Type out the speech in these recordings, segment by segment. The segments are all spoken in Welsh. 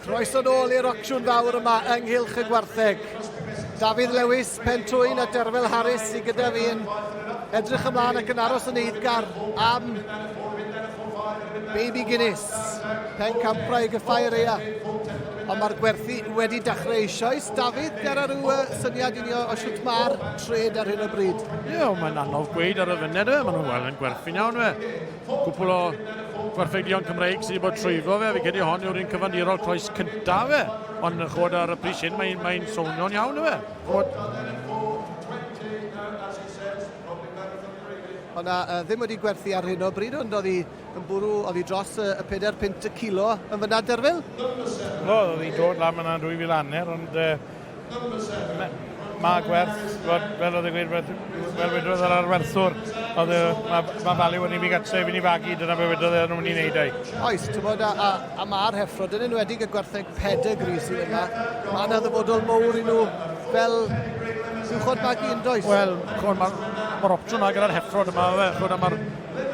Croeso nôl i'r ocsiwn fawr yma ynghylch y gwartheg. Dafydd Lewis, Pentwyn a Derfel Harris i gyda fi yn edrych ymlaen ac yn aros yn eiddgar am Baby Guinness. Pen campra i gyffau reia. Ond mae'r gwerthu wedi dechrau eisoes. Dafydd, ger ar ryw syniad i ni o, o sut mae'r trade ar hyn o bryd? Ie, yeah, mae'n anodd gweud ar y funud fe, maen nhw'n weld yn gwerthu'n iawn fe. Cwpl o gwerthudion Cymreig sydd wedi bod trwyfo fe, fi credu hon yw'r un cyfandirol croes cyntaf fe, ond yn chod ar y pris hyn mae'n mae swnio'n iawn fe. Chod... Ond na, uh, ddim wedi gwerthu ar hyn o bryd, ond oedd hi yn bwrw, oedd hi dros y, y 4 pint y kilo yn fyna derfil? O, oedd hi dod lan fyna yn 2000 aner, ond uh, Mae gwerth, wel, fel oedd e'n gweud, fel wedodd yr arwerthwr, oedd e, mae, mae value yn i mi gatre, fi'n i fagu, dyna be wedodd e, nhw'n i wneud ei. Oes, ti'n bod, a, a, a mae'r heffro, dyn nhw'n wedi y gwertheg pedigree sydd yma, mae yna ddyfodol mowr i nhw fel uwchod magu yn does? Wel, mae'r ma, ma opsiwn yna gyda'r heffro yma, fe, chwyd, mae'r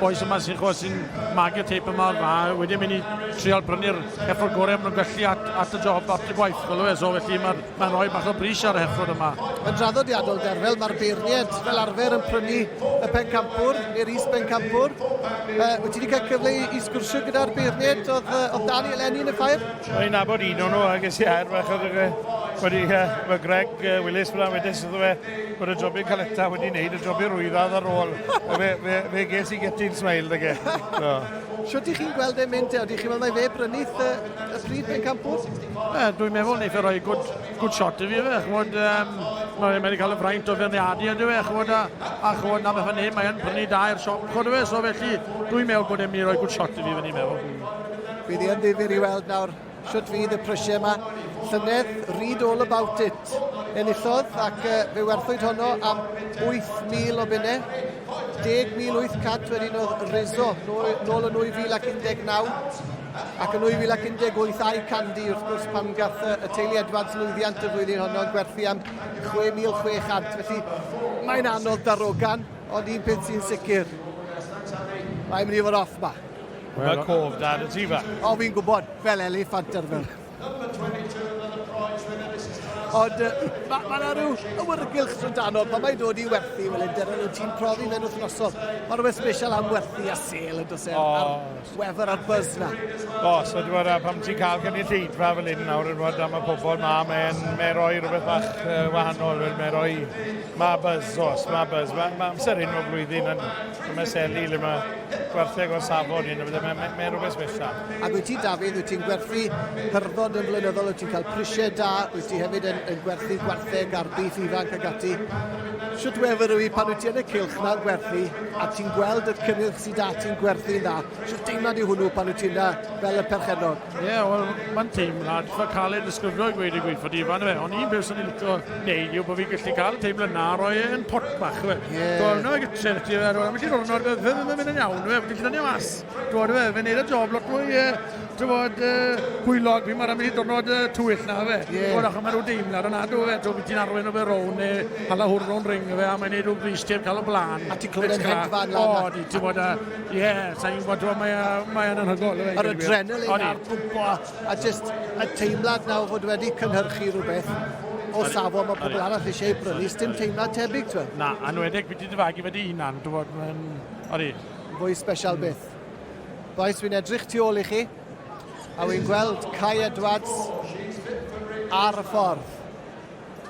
bois yma sy'n chwa sy'n magu teip yma a wedyn mynd i trial brynu'r heffrod gorau am nhw'n gallu at, at y job, at y gwaith, fel e, so felly mae'n ma rhoi bach o bris ar y heffrod yma. Yn draddodiadol derfel, mae'r beirniaid fel arfer yn prynu y pencampwr neu'r is bencampwr. Uh, wyt ti wedi cael cyfle i, i sgwrsio gyda'r beirniaid oedd, uh, oedd Dani eleni yn y ffair? Rwy'n abod un o'n nhw, ac ys i air fach oedd wedi, uh, mae Greg uh, Willis fyna wedys iddo fe, bod y jobyn caleta wedi wneud y jobyn rwyddad ar ôl. fe, fe, fe ges i getyn smail da ge. No. Siwt i chi'n gweld e'n mynd te? Oedych chi'n meddwl mae fe brynu y, y stryd pen campwr? E, dwi'n meddwl ni fe roi good, good shot i fi fe. Chwod, um, mae'n mynd i cael y fraint o ferniadu ydw e. Chwod, a, a chwod na beth hynny, mae'n prynu da i'r siop. Chwod fe, so felly dwi'n meddwl bod e'n mynd i roi good shot i fi fe ni'n meddwl. Bydd i yn ddifur i weld nawr Shwt fydd y prysie yma? Llynedd, read all about it. Enillodd ac uh, fe werthwyd honno am 8,000 o bunne. 10,800 wedyn oedd Rizzo nôl, nôl yn 2019 ac yn 2018 a'i Candy wrth gwrs pan gath y teulu Edwards lwyddiant y flwyddyn honno yn gwerthu am 6,600 felly mae'n anodd darogan ond un peth sy'n sicr mae'n mynd i fod off ma. Mae cof da dy ti fa. O, fi'n gwybod, fel eliffant ar fel. Ond mae ma yna rhyw awyrgylch sy'n dano pan mae'n dod i werthu, wel, ynddo, nhw ti'n profi fe'n wythnosol. Mae rhywbeth special am werthu a sel yn dysau, oh. a'r weather a'r buzz na. O, oh, so dwi'n meddwl, pam ti'n cael gynulleidfa fel hyn nawr yn fod am y pobol ma, mae'n mae roi rhywbeth bach uh, wahanol, mae'n roi, mae buzz, os, mae buzz, mae ma amser hyn o flwyddyn yn So mae Seli le mae gwerthu agor safon hyn, mae, mae, mae rhywbeth special. Ac wyt ti, Dafydd, wyt ti'n gwerthu hyrddod yn flynyddol, wyt ti'n cael prisiau da, wyt ti hefyd yn, yn gwerthu gwartheg a'r beef ifanc ag ati. Sut wefr yw i pan wyt ti yn y cilch na'n gwerthu a ti'n gweld y cynnyrch sydd da ti'n gwerthu'n dda? Sut deimlad yw hwnnw pan wyt ti'n fel y perchennog? Ie, yeah, wel, mae'n teimlad eitha caled ddisgrifio i gweud y gweithfod Ifan, fe. Ond un beth sy'n ei licio neud yw bod fi'n gallu cael y teimlad na roi e yn pot bach, fe. Ie. Dwi'n meddwl gytre fe ti, fe. Rwy'n gallu rhwrnod, fe, fe, fe, mynd yn iawn, fe. Fi'n gallu dynnu mas. Dwi'n fe, fe wneud y job lot mwy, e, ti'n bod, e, gwylog. Fi'n marau mynd i dynod e, twyll na, fe. Ie. Dwi'n achos mae rhyw deimlad yna, dwi'n fe. Dwi'n ti'n arwain o fe rown, e, hala hwrn o'n ring, fe, a mae'n neud rhyw bris ti'n cael o blaen. A ti'n clywed yn hedfan lan. O, di, ti'n bod, e, Ie, yeah, sa'n gwybod, dwi'n mae, mae yn anhygol. Yr adrenalin a'r pwmpo, a jyst y teimlad nawr fod wedi cynhyrchu rhywbeth o safon mae pobl arall eisiau ei brynu, dim teimlad tebyg, ti'n Na, anwedig beth i dy fagu wedi hunan, dwi'n bod, mae'n... Odi. Fwy special mm. beth. Boes, fi'n edrych tu ôl i chi, a wy'n gweld Kai Edwards ar y ffordd.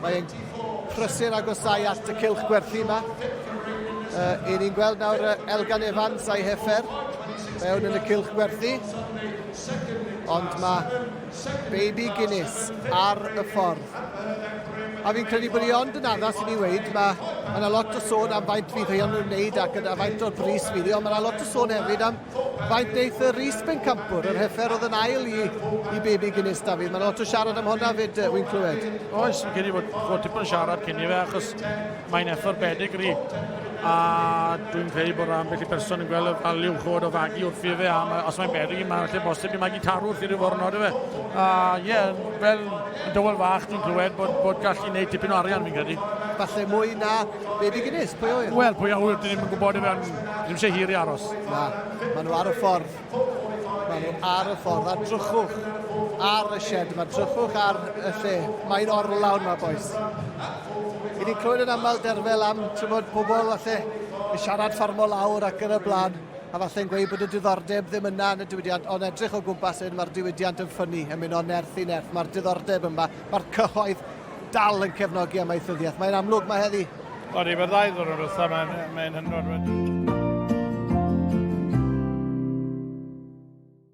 Mae e'n prysur agosau at y cylch gwerthu yma. Uh, ni'n gweld nawr uh, Elgan Evans a'i heffer mewn yn y cylch gwerthu. Ond mae Baby Guinness ar y ffordd. A fi'n credu bod ni ond yn addas i ni weid, mae yna ma lot o sôn am faint fydd hyn yn wneud ac yna faint o'r bris fydd hi, ond mae yna lot o sôn hefyd am Faint wneud y Rhys Bencampwr, yr heffer oedd yn ail i, i Baby Guinness, Dafydd. Mae'n lot o siarad am hwnna fyd, wy'n clywed. Oes, yn credu bod, bod tipyn o siarad cyn i fe, achos mae'n effer bedigri. A dwi'n credu bod rhan beth i person yn gweld y value chod o fagu wrth i fe, a ma, os mae'n bedigri, mae'n lle bosib i magu tarw wrth i ryw forno, dwi fe. A ie, yeah, fel dywel fach, dwi'n clywed bod, bod gallu gwneud tipyn o arian, fi'n credu. Falle mwy na Be ddigynnes? Pwy a ŵyr? Wel, pwy a ŵyr, dyn ni'n gwybod i fewn, ddim eisiau hir i aros. Na, maen nhw ar y ffordd. Maen nhw ar y ffordd, a drychwch ar y shed yma, drychwch ar y lle. Mae'n orlawn yma, boes. I ni'n clywed yn aml derfel am, ti'n bod, pobl falle yn siarad ffarmo lawr ac yn y blaen, a falle yn gweud bod y diddordeb ddim yna yn y diwydiant, ond edrych o gwmpas hyn, mae'r diwydiant yn ffynnu, yn mynd o nerth i nerth, mae'r diddordeb yma, mae'r cyhoedd dal yn cefnogi amaethyddiaeth. Mae'n amlwg mae heddi. O'n i, mae'r ddau ddwrnod wrtho, mae'n mae hynod wedi.